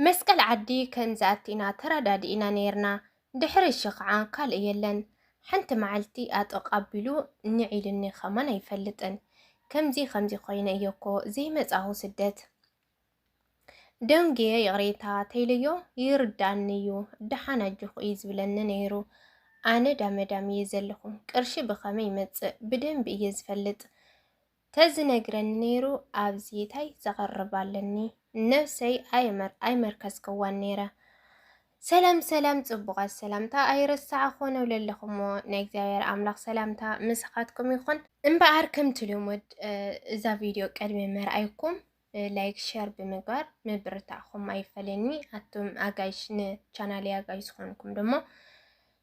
መስቀል ዓዲ ከም ዝኣቲና ተረዳዲእና ነይርና ድሕሪ እሺ ከዓ ካልእ የለን ሓንቲ መዓልቲ ኣጥቕ ኣቢሉ ንዒሉኒ ከማን ኣይፈልጥን ከምዚ ከምዚ ኮይነ እየ እኮ ዘይመፃሁ ስደት ደንጉየ ይቕሬታ ተይለዮ ይርዳኒ እዩ ደሓን ኣጆኹ እዩ ዝብለኒ ነይሩ ኣነ ዳመዳም እየ ዘለኹ ቅርሺ ብኸመይ ይመፅእ ብደንቢ እየ ዝፈልጥ ተዝነግረኒ ነይሩ ኣብዚ ታይ ዘቕርብ ኣለኒ ነብሰይ ኣይመርከስክዋን ነይረ። ሰላም ሰላም ጽቡቓት ሰላምታ ኣይረሳዕ ኾነው ለለኹሞ ናይ እግዚኣብሔር ኣምላኽ ሰላምታ ምሳኻትኩም ይኹን። እምበኣር ከምቲ ልሙድ እዛ ቪድዮ ቅድሚ ምርኣይኩም ላይክ ሸር ብምግባር ምብርታዕኹም ኣይፈለየኒ ኣቱም ኣጋይሽ ንቻናለይ ኣጋይሽ ዝኾንኩም ደሞ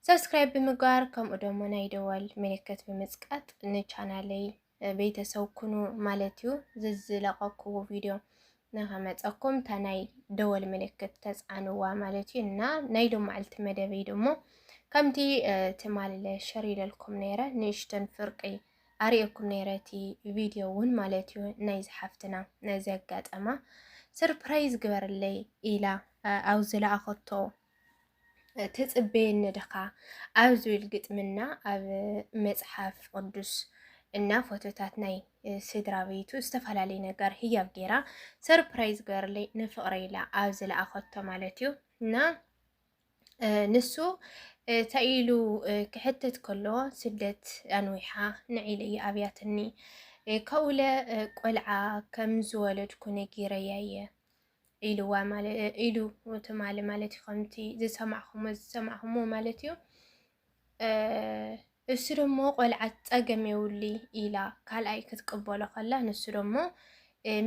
ሰብስክራይብ ብምግባር ከምኡ ደሞ ናይ ደወል ምልክት ብምጽቃጥ ንቻናለይ ቤተሰብ ኩኑ ማለት እዩ። ዝዝለቀክዎ ቪድዮ ንኸመፀኩም እታ ናይ ደወል ምልክት ተፃንዋ ማለት እዩ እና ናይ ዶ መዓልቲ መደበይ ደሞ ከምቲ ትማል ሸር ኢለልኩም ነይረ ንእሽተን ፍርቂ ኣርእየኩም ነይረ እቲ ቪድዮ እውን ማለት እዩ ናይዚ ሓፍትና ዘጋጠማ ስርፕራይዝ ግበርለይ ኢላ ኣብ ዝለኣኸቶ ትፅበየኒ ድኻ ኣብ ዝብል ግጥምና ኣብ መፅሓፍ ቅዱስ እና ፎቶታት ናይ ስድራ ቤቱ ዝተፈላለዩ ነገር ህያብ ገይራ ሰርፕራይዝ ገርለይ ንፍቕረ ኢላ ኣብ ዝለኣኸቶ ማለት እዩ እና ንሱ እንታይ ኢሉ ክሕተት ከሎ ስደት ኣንዊሓ ንዒለ እየ ኣብያትኒ ከውለ ቆልዓ ከም ዝወለድኩ ነጊረያ እየ ኢልዋ ኢሉ ትማሊ ማለት እዩ ከምቲ ዝሰማዕኹሞ ዝሰማዕኹሞ ማለት እዩ እሱ ደሞ ቆልዓ ፀገም የውሊ ኢላ ካልኣይ ክትቅበሎ ከላ ንሱ ደሞ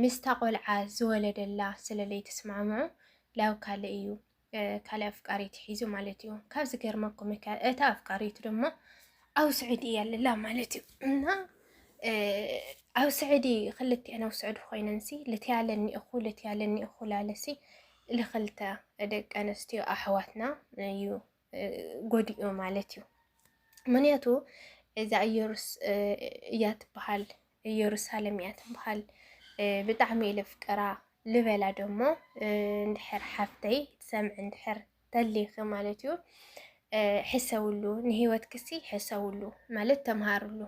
ምስታ ቆልዓ ዝወለደላ ስለለይ ትስማምዑ ላብ ካልእ እዩ ካልእ ኣፍቃሪት ሒዙ ማለት እዩ። ካብ ዝገርመኩም እካ እታ ኣፍቃሪቱ ድማ ኣብ ስዑዲ እያ ለላ ማለት እዩ እና ኣብ ስዑዲ ክልቲኤን ኣብ ስዑዲ ኮይነንሲ ልትያለኒ እኹ ልትያለኒ እኹ ላለሲ ልክልተ ደቂ ኣንስትዮ ኣሕዋትና እዩ ጎዲኡ ማለት እዩ። ምክንያቱ እዛ እየሩስ እያ ትበሃል እየሩሳለም እያ ትበሃል ብጣዕሚ እየ ለፍቅራ ልበላ ደሞ እንድሕር ሓፍተይ ትሰምዕ እንድሕር ተሊኺ ማለት እዩ ሕሰውሉ ንህይወት ክሲ ሕሰውሉ ማለት ተምሃርሉ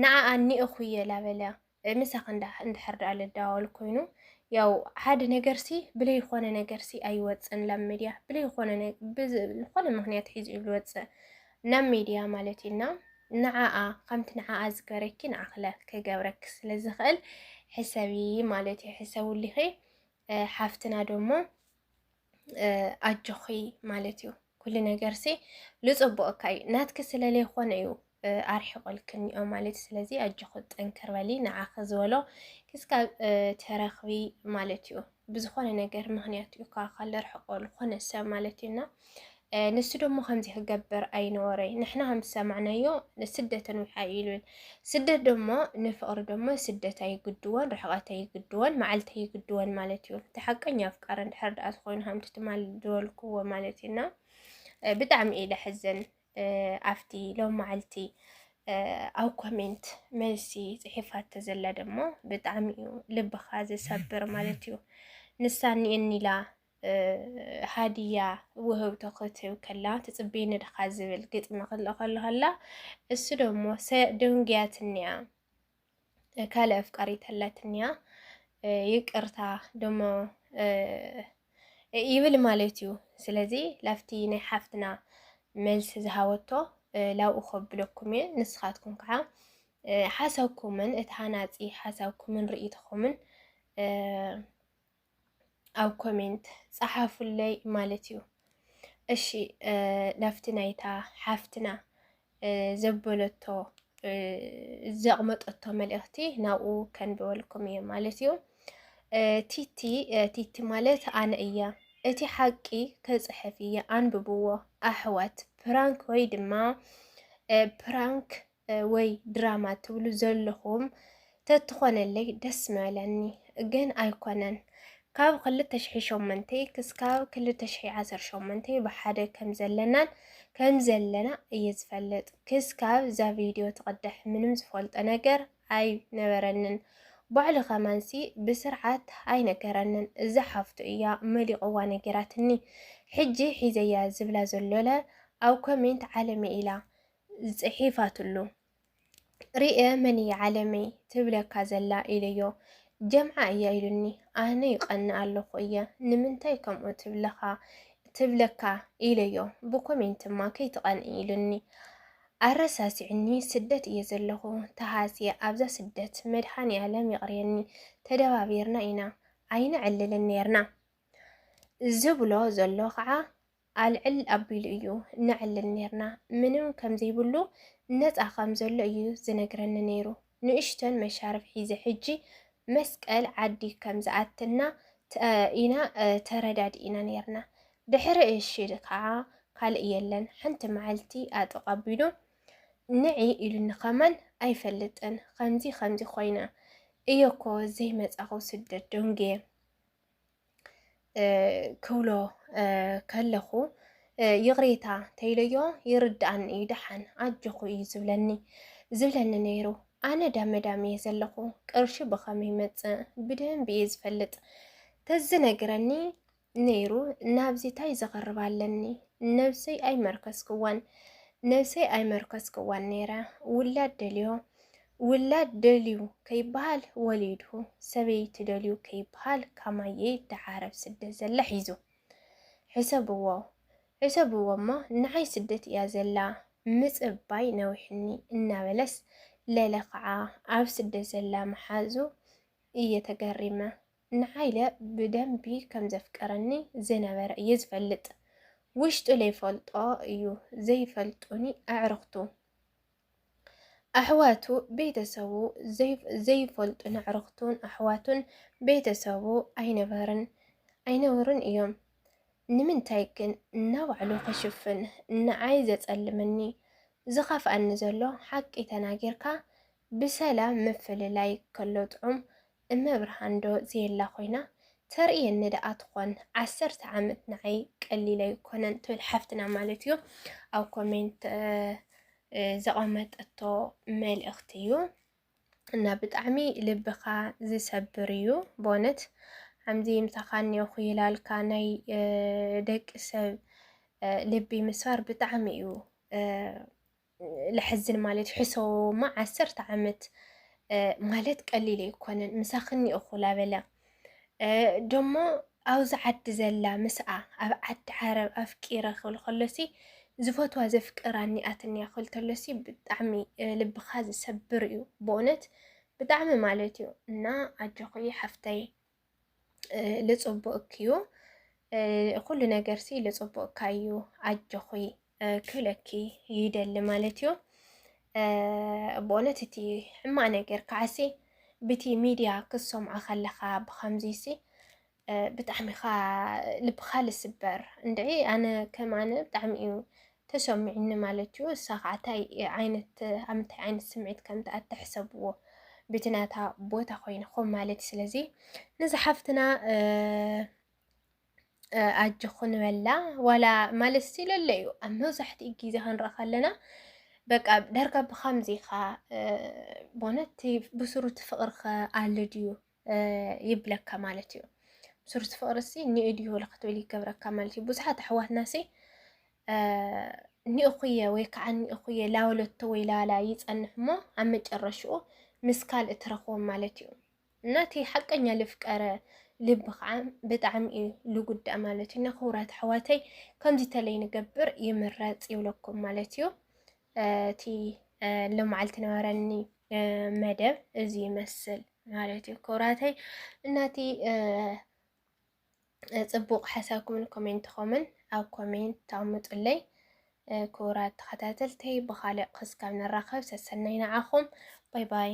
ንዓኣ ኒእኹ እየ ላበለ ምሳኽ እንድሕር ድኣ ልዳወል ኮይኑ ያው ሓደ ነገርሲ ብለይኾነ ነገርሲ ኣይወፅን ላብ ሚድያ ብለይኾነ ዝኾነ ምክንያት ሒዙ እዩ ዝወፅእ ናብ ሚድያ ማለት እዩና ንዓኣ ከምቲ ንዓኣ ዝገበረኪ ንዓክለ ክገብረኪ ስለ ዝኽእል ሕሰቢ ማለት እዩ ሕሰቡሊኺ ሓፍትና ደሞ ኣጆኺ ማለት እዩ ኩሉ ነገርሲ ልፅቡቅ እካ እዩ ናትኪ ስለ ዘይኮነ እዩ ኣርሒቆልኪ እኒኦ ማለት ስለዚ ኣጆኺ ጠንክር በሊ ንዓኺ ዝበሎ ክስካብ ተረኽቢ ማለት እዩ ብዝኾነ ነገር ምክንያት እዩ ካብ ኣካል ዘርሕቆ ዝኾነ ሰብ ማለት እዩ እና ንሱ ደሞ ከምዚ ክገብር ኣይነበረ ንሕና ከም ዝሰማዕናዮ ስደትን ውሓይ ኢሉን ስደት ደሞ ንፍቕሪ ደሞ ስደት ኣይግድዎን ርሕቐት ኣይግድዎን መዓልቲ ኣይግድዎን ማለት እዩ እቲ ሓቀኛ ኣፍቃሪ እንድሕር ድኣ ዝኾይኑ ከምቲ ትማል ዝበልክዎ ማለት እዩና ብጣዕሚ እዩ ለሕዝን ኣብቲ ሎም መዓልቲ ኣብ ኮሜንት መልሲ ጽሒፋቶ ዘላ ደሞ ብጣዕሚ እዩ ልብኻ ዝሰብር ማለት እዩ ንሳ ኒላ ሃዲያ ውህብቶ ክትህብ ከላ ትጽበይ ንድኻ ዝብል ግጥሚ ክልእኸሉ ከላ እሱ ደሞ ደንጉያትኒያ ካልእ ኣፍቃሪት ኣላትንያ ይቅርታ ደሞ ይብል ማለት እዩ። ስለዚ ላፍቲ ናይ ሓፍትና መልሲ ዝሃወቶ ላብኡ ከብለኩም እየ። ንስኻትኩም ከዓ ሓሳብኩምን እቲ ሃናፂ ሓሳብኩምን ርእይቶኹምን ኣብ ኮሜንት ጸሓፉለይ ማለት እዩ። እሺ ናብቲ ናይታ ሓፍትና ዘበለቶ ዘቕመጠቶ መልእኽቲ ናብኡ ከንብበልኩም እየ ማለት እዩ። ቲቲ ቲቲ ማለት ኣነ እየ እቲ ሓቂ ክፅሕፍ እየ ኣንብብዎ ኣሕዋት ፕራንክ ወይ ድማ ፕራንክ ወይ ድራማ ትብሉ ዘለኹም ተትኾነለይ ደስ ምበለኒ ግን ኣይኮነን ካብ ክልተ ሽሒ ሸሞንተ ክስካብ ክልተ ሽሒ ዓሰርተ ሸሞንተ ብሓደ ከም ዘለናን ከም ዘለና እየ ዝፈልጥ ክስካብ እዛ ቪድዮ ትቕድሕ ምንም ዝፈልጦ ነገር ኣይነበረንን ባዕሉ ከማንሲ ብስርዓት ኣይነገረንን እዛ ሓፍቱ እያ መሊቕዋ ነጊራትኒ ሕጂ ሒዘያ ዝብላ ዘሎለ ኣብ ኮሜንት ዓለመ ኢላ ጽሒፋትሉ ርእየ መን እያ ዓለመይ ትብለካ ዘላ ኢለዮ ጀምዓ እያ ኢሉኒ ኣነ ይቀንእ ኣለኹ እየ ንምንታይ ከምኡ ትብለኻ ትብለካ ኢለዮ ብኮሜንት እማ ከይትቀንእ ኢሉኒ ኣረሳሲዕኒ ስደት እየ ዘለኹ ተሃስየ ኣብዛ ስደት መድሃኒ ኣለም ይቕርየኒ ተደባቢርና ኢና ኣይንዕልልን ነርና ዝብሎ ዘሎ ከዓ ኣልዕል ኣቢሉ እዩ ነዕልል ኔርና። ምንም ከም ዘይብሉ ነጻ ከም ዘሎ እዩ ዝነግረኒ ነይሩ። ንእሽቶን መሻርፍ ሒዘ ሕጂ መስቀል ዓዲ ከም ዝኣትና ኢና ተረዳዲእና ኔርና። ድሕሪ እሺ ከኣ ካልእ የለን። ሓንቲ መዓልቲ ኣጥቕ ኣቢሉ ንዒ ኢሉኒ ከማን ኣይፈልጥን። ከምዚ ከምዚ ኮይነ እየኮ ዘይመጻኹ ስደት ደንጉየ። ክብሎ ከለኹ ይቕሬታ ተይለዮ ይርድኣኒ እዩ ደሓን ኣጆኹ እዩ ዝብለኒ ዝብለኒ ነይሩ ኣነ ዳመዳም እየ ዘለኹ ቅርሺ ብኸመይ መፅእ ብደንብ እየ ዝፈልጥ ተዝነግረኒ ነይሩ ናብዚ ታይ ዘቕርብ ኣለኒ ነብሰይ ኣይመርከስክዋን ነብሰይ ኣይመርከስክዋን ነይረ ውላድ ደልዮ ውላድ ደልዩ ከይበሃል ወሊዱ፣ ሰበይቲ ደልዩ ከይበሃል ካማየ ተዓረብ ስደት ዘላ ሒዙ። ሕሰብዎ ሕሰብዎ እሞ ንዓይ ስደት እያ ዘላ ምጽባይ ነዊሕኒ እናበለስ ለለ ከዓ ኣብ ስደት ዘላ መሓዙ እየ ተገሪመ። ንዓይለ ብደንቢ ከም ዘፍቀረኒ ዝነበረ እየ ዝፈልጥ። ውሽጡ ለይፈልጦ እዩ ዘይፈልጡኒ ኣዕርኽቱ። ኣሕዋቱ ቤተሰቡ ዘይፈልጡን ኣዕርኽቱን ኣሕዋቱን ቤተሰቡ ኣይነበርን ኣይነበሩን እዮም። ንምንታይ ግን እናባዕሉ ክሽፍን ንዓይ ዘጸልመኒ ዝኸፍኣኒ ዘሎ ሓቂ ተናጊርካ ብሰላም ምፍልላይ ከሎ ጥዑም እመ ብርሃን ዶ ዘየላ ኮይና ተርእየኒ ደኣ ትኾን ዓሰርተ ዓመት ንዓይ ቀሊል ኣይኮነን ትብል ሓፍትና ማለት እዩ ኣብ ኮሜንት ዘቐመጠቶ መልእኽቲ እዩ እና ብጣዕሚ ልብኻ ዝሰብር እዩ በእውነት ሓምዚ ምሳኻ እኒኦኹ ይላልካ ናይ ደቂ ሰብ ልቢ ምስባር ብጣዕሚ እዩ ለሐዝን ማለት ሕሰቦማ ዓሰርተ ዓመት ማለት ቀሊል ኣይኮነን ምሳኽኒ እኹ ላበለ ደሞ ኣብዚ ዓዲ ዘላ ምስኣ ኣብ ዓዲ ዓረብ ኣፍቂረ ክብል ከሎሲ ዝፈትዋ ዘፍቅራ እኒኣትኒያ ክብል ተሎሲ ብጣዕሚ ልብኻ ዝሰብር እዩ ብእውነት ብጣዕሚ ማለት እዩ እና ኣጆኺ ሓፍተይ ልፅቡቅኪዩ ኩሉ ነገርሲ ልፅቡቅካዩ ኣጆኺ ክብለኪ ይደሊ ማለት እዩ ብእውነት እቲ ሕማቅ ነገር ከዓሲ ብቲ ሚድያ ክሰምዖ ከለኻ ብከምዚሲ ብጣዕሚኻ ልብኻ ልስበር እንድዒ ኣነ ከም ኣነ ብጣዕሚ እዩ ተሰሚዑኒ ማለት እዩ እሳ ከዓ ታይ ዓይነት ኣብ ምንታይ ዓይነት ስምዒት ከም ትኣቲ ሕሰብዎ ብቲ ናታ ቦታ ኮይንኩም ማለት ስለዚ ነዛ ሓፍትና ኣጆኹ ንበላ ዋላ ማለት ሲለለ እዩ ኣብ መብዛሕትኡ ግዜ ክንርኢ ከለና በቃ ዳርጋ ብከምዚ ኢኻ ቦነት ብስሩቲ ፍቅሪ ከ ኣሎ ድዩ ይብለካ ማለት እዩ። ብስሩቲ ፍቅሪ ሲ ኒኡ ድዩ ወላ ክትብል ይገብረካ ማለት እዩ። ብዙሓት ኣሕዋትና ሲ ኒኡኹየ ወይ ከዓ ኒኡኹየ ላወለቶ ወይ ላላ ይጸንሕ እሞ ኣብ መጨረሽኡ ምስ ካልእ ትረኽቦም ማለት እዩ እና እቲ ሓቀኛ ልፍቀረ ልቢ ከዓ ብጣዕሚ እዩ ልጉዳእ ማለት እዩ እና ክቡራት ኣሕዋተይ ከምዚ ተለይ ንገብር ይምረፅ ይብለኩም ማለት እዩ። እቲ ልምዓልቲ ነበረኒ መደብ እዚ ይመስል ማለት እዩ ክብራተይ እናቲ ፅቡቕ ሓሳብኩምን ኮሜንትኹምን ኣብ ኮሜንት ተቐምጡለይ ክቡራት ተኸታተልተይ ብኻልእ ክስካብ ንራኸብ ሰሰናይ ንዓኹም ባይ ባይ